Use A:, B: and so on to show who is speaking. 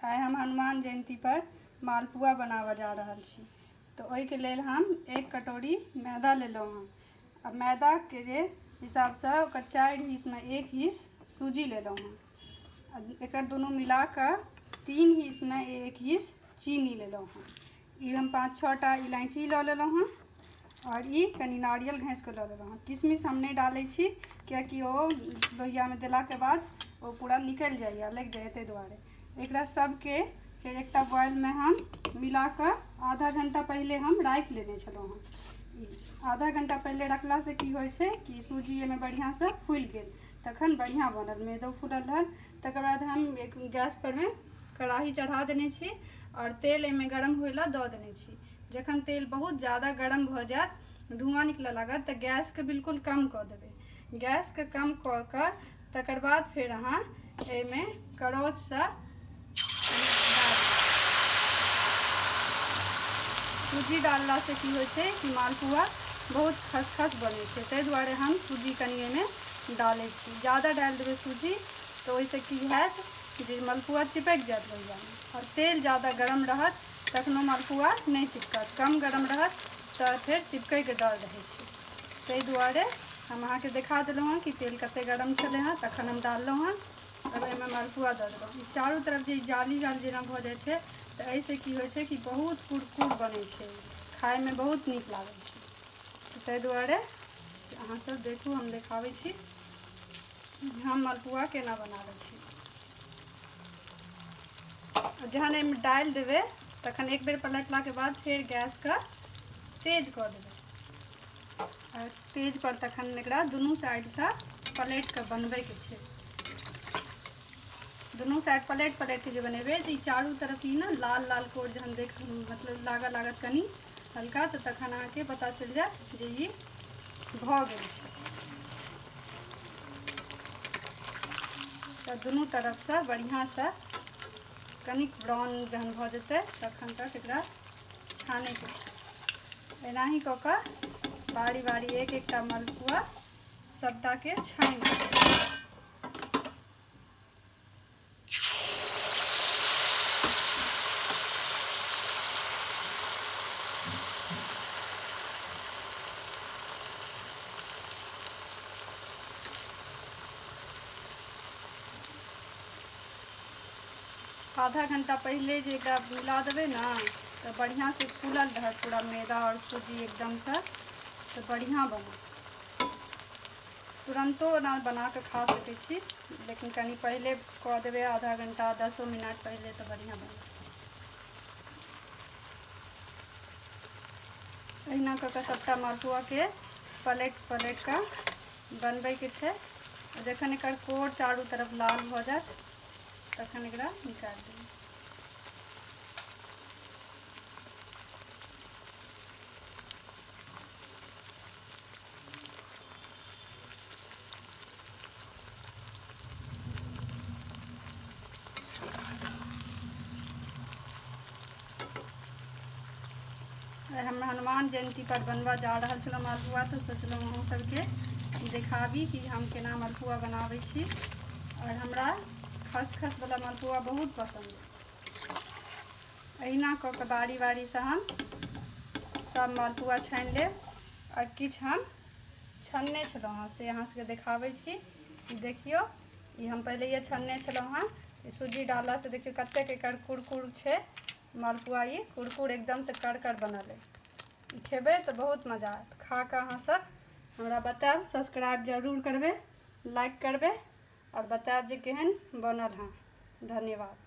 A: आइ हम हनुमान जयंती पर मालपुआ बनाबऽ जा रहल छी तऽ ओहिके लेल हम एक कटोरी मैदा लेलहुँ हँ आ मैदाके जे हिसाबसँ ओकर चारि हिस्समे एक हिस्स सूजी लेलहुँ हँ आ एकर दुनू मिलाकऽ तीन हिस्समे एक हिस्स चीनी लेलहुँ हँ ई हम पाँच छः टा इलायची लऽ लेलहुँ हँ आओर ई कनि नारियल घँसिकऽ लऽ लेलहुँ हँ किशमिश हम नहि डालै छी कियाकि ओ लोहियामे देलाके बाद ओ पूरा निकलि जाइए लागि जाइए ताहि दुआरे एकरा सबके फेर एकटा बॉयलमे हम मिलाकऽ आधा घण्टा पहिले हम राखि लेने छलहुँ हँ ई आधा घण्टा पहिले रखलासँ की होइ छै कि सूजी एहिमे बढ़िआँसँ फुलि गेल तखन बढ़िआँ बनल मैदो फुलल रहल तकर बाद हम एक गैसपरमे कड़ाही चढ़ा देने छी आओर तेल एहिमे गरम होइ लए दऽ देने छी जखन तेल बहुत ज्यादा गरम भऽ जायत धुआँ निकलऽ लागत तऽ गैसके बिल्कुल कम कऽ देबै गैसके कम कऽ कऽ तकर बाद फेर अहाँ एहिमे करछसँ सूजी डाललासँ की होइ छै कि मालपुआ बहुत खसखस बनै छै ताहि दुआरे हम सूजी कनि एहिमे डालै छी ज्यादा डालि देबै सूजी तऽ ओहिसँ की हैत जे मलपुआ चिपकि जायत लोहियामे आओर तेल जादा गरम रहत तखनो मलपुआ नहि चिपकत कम गरम रहत तऽ फेर चिपकैके डर रहै छै ताहि दुआरे हम अहाँके देखा देलहुँ हँ कि तेल कते गरम छलै हँ तखन हम डाललहुँ हँ तब एहिमे मलपुआ दऽ देलहुँ ई चारू तरफ जे जाली जाली जेना भऽ जाइ छै तऽ एहिसँ की होइ छै कि बहुत कुरकुर बनै छै खाइमे बहुत नीक लागै छै ताहि दुआरे अहाँसभ देखू हम देखाबै छी हम मलपुआ केना बनाबै छी जहन एहिमे डालि देबै तखन एक बेर पलटलाके बाद फेर गैसके तेज कऽ देबै तेज पर तखन एकरा दुनू साइडसँ पलटि कऽ बनबैके छै दुनू साइड पलटि पलटि कऽ जे बनेबै तऽ ई चारू तरफ ई ने लाल लाल कोर जहन देख मतलब लागऽ लागत कनि हल्का तऽ तखन अहाँके पता चलि जायत जे ई भऽ गेल छै तऽ दुनू तरफसँ बढ़िआँसँ कनिक ब्राउन जहन भऽ जेतै तखन तक एकरा छानैके छै एनाही कऽ कऽ बारी बारी एक एकटा मलपुआ सभटाके छानि लेबै। आधा घंटा पहिले जे एकरा बुला देबै ने तऽ बढ़िआँसँ फूलल रहत पूरा मैदा आओर सूजी एकदमसँ तऽ बढ़िआँ बनत तुरन्तो ओना बनाकऽ खा सकै छी लेकिन कनि पहिले कऽ देबै आधा घण्टा दसो मिनट पहिले तऽ बढ़िआँ बनत अहिना कऽ कऽ सभटा मालपुआके पलटि पलटि कऽ बनबैके छै जखन एकर कोर चारू तरफ लाल भऽ जायत तखन एकरा निकालि देबै हम हनुमान जयंती पर बनवा जा रहा छलहुँ मलपुआ तो सोचलहुँ अहूँ सबके देखाबी कि हम केना मलपुआ बनाबै छी आओर हमरा खसखसवला मलपुआ बहुत पसन्द अहिना कऽ कऽ बारी बारीसँ हम सब मालपुआ छानि लेब आओर किछु हम छनने छलहुँ हँ से अहाँ सबके देखाबै छी ई देखियौ ई हम पहिलैए छनने छलहुँ हँ ई सूजी डाललासँ देखियौ कतेक एकर कुरकुर छै मालपुआ ई कुरकुर एकदमसँ करकर बनल अइ ई खेबै तऽ बहुत मजा आयत खा कऽ अहाँ सब हमरा बतायब सब्सक्राइब जरूर करबै लाइक करबै आओर बतायब जे केहन बनल हँ धन्यवाद